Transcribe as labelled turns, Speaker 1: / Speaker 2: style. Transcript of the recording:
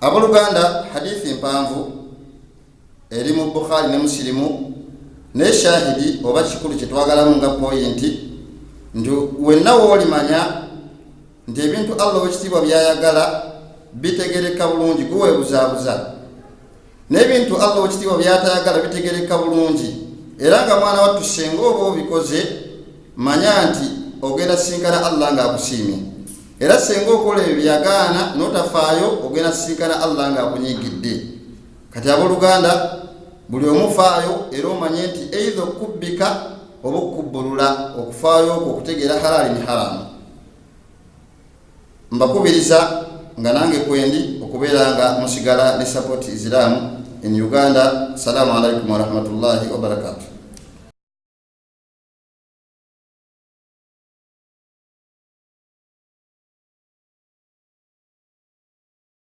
Speaker 1: Aboluganda, hadithi mpanvu eri mu Bukhari ne Musilimu naye shahidi oba kikulu kyetwagalamu nga poyinti nti wenna woolimanya nti ebintu Allah owekitiibwa byayagala bitegereka bulungi guweebuzaabuza n'ebintu allah wekitiibwa byatayagala bitegereka bulungi era nga mwana wattu senga oba obikoze manya nti ogenda sisinkana allah nga akusiimye era senga okola ebyo byagaana notafaayo ogenda sisinkana allah nga akunyigidde kati abooluganda buli omufaayo era omanye nti eidha okubbika oba okubbulula okufaayo okwo okutegeera halaali ni haramu mbakubiriza nga nange kwendi okubeera nga musigala ne support islam in uganda salamu alaikum warahmatullahi wabarakatuh